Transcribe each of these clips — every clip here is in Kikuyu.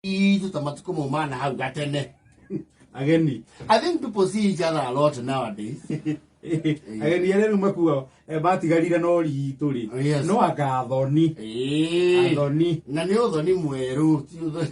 Ithuĩ matukũ mau mana hau gatene ageni i think people see each other a lot nowadays ageni arĩa rĩu makuo eh, matigarire no ritũ rĩ Oh, yes. no anga athoni Ĩĩ. athoni na nĩ ũthoni mwerũ ti ũthoni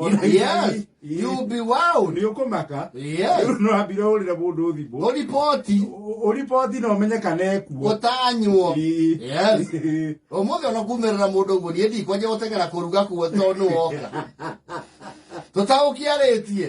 You know, yes, you'll be wowed. Nĩ ũkũmaka. Yes. Rĩu no ambire ũrĩre mũndũ thimũ. Ũripoti. Ũripoti na ũmenye kana ekuo. Ũtanyuo. Yes. Ũmũthĩ ona kumĩrĩra mũndũ ũguo niĩ ndikwanja gũteng'era kũruga kuo tondũ nĩ woka. Tũtaũkiarĩtie.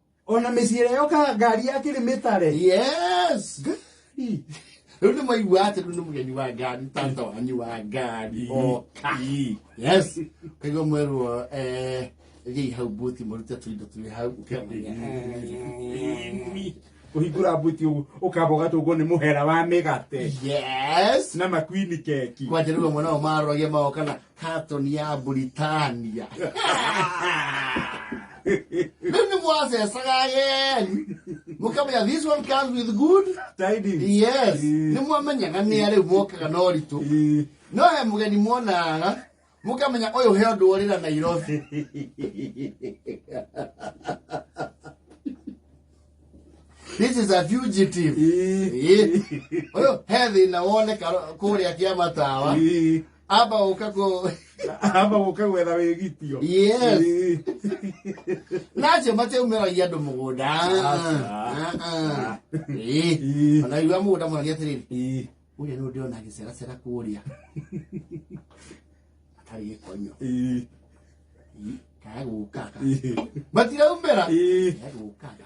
ona mĩciĩre yokaga ngari ya kĩrĩmĩtare yes Ngari. rĩu nĩ maigua atĩ rĩu nĩ mũgeni wa ngari tata wanyu wa ngari oka yes kaigua mwerwo eh, thiĩi hau buti mũrute tũindo twĩ hau ũkĩmenya kũhingũra mbuti ũguo ũkamba ũgatũngwo nĩ mũhera wa mĩgate yes na makwini keki kwanja nĩguo mwana wa marogia maoka na katoni ya Britania rĩu nĩ mwacecaga ageni mũkamenya this one comes with good Tidings. yes Ĩĩ. nĩ mwamenyaga nĩ arĩu mokaga na ũritũ Ĩĩ. no he mũgeni mwonaga mũkamenya ũyũ he ũndũ ũrĩra nairobi this is a fugitive Ĩĩ. Ĩĩ. ũyũ he thĩna woneka kũrĩa kĩa matawa Ĩĩ. amba ũka kũ amba ũka gwetha wĩgitio yes nacio matiaumĩragia andũ mũgũnda onaiwa mũgũnda mũragia atĩrĩrĩ ũrĩa nĩ ũndĩona gĩceracera kũrĩa atarĩ gĩkonyo kaya gũkaga matiraumĩra kaya gũkaga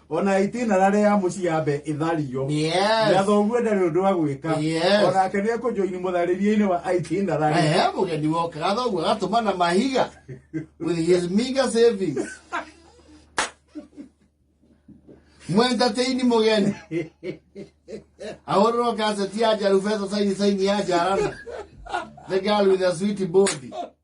ona itina na rĩa mũciambe ĩthario Yes. na thoguo ndarĩ ũndũ wa gwĩka Yes. onake nĩ ekũnjoini mũtharĩrie-inĩ wa itina rarĩ Ehe, mũgeni wokaga thoguo agatũma na mahiga with his meager savings mwentatĩini mũgeni ahũrĩrwo kaseti ya njaru beca saini saini ya njarana the girl with a sweet body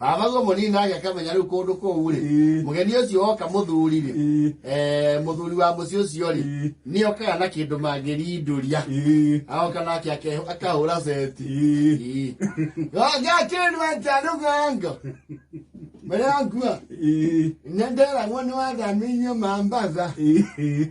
athagwo mũnini nake akamenya rĩu kũndũ kũu rĩ Ĩĩ. mũgeni ũcio woka mũthuri rĩ Ĩĩ. eh, mũthuri wa mũciĩ ũcio rĩ Ĩĩ. nĩ okaga na kĩndũ mangĩrindũria Ĩĩ. aoka nake ake- akahũra seti Ĩĩ. gakĩndũ atarũgango marĩa ngua Ĩĩ. nĩ nderagwo nĩ wathamĩirio mambatha Ĩĩ.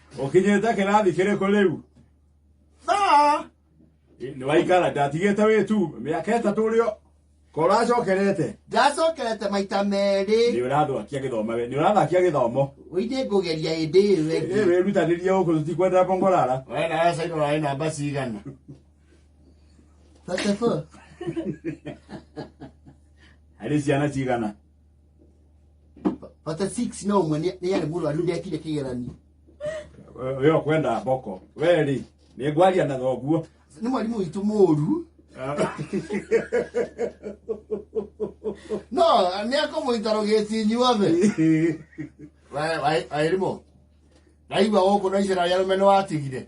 Ũkinyĩte kĩrathi kĩrĩkũ rĩu? Thaa! Nĩ waikara ndatigĩte wĩ tu mĩaka ĩtatũ ũrĩ o- ko ũracokerete. Ndacokerete maita Nĩ merĩ. ũrathakia gĩthomo we, nĩ ũrathakia gĩthomo. Ũinĩ ngũgeria hĩndĩ ĩyo Ĩ, ĩngĩ. Wĩrutanĩrie gũkũ tũtikwenda bongorara. Wewe na wewe sasa una namba cigana? 34. Harĩ ciana cigana? Pata 6 no mwe nĩ yarĩ mũrũ arĩu ndekire kĩgeranio. Wewe kwenda boko. Wewe rĩ, nĩ ngwaria na thoguo. Nĩ mwarimũ witũ mũru. No, nĩ akũmũita rũgĩti inyuothe. Waĩrimũ, ndaigua gũkũ no icera rĩa rũmene watigire.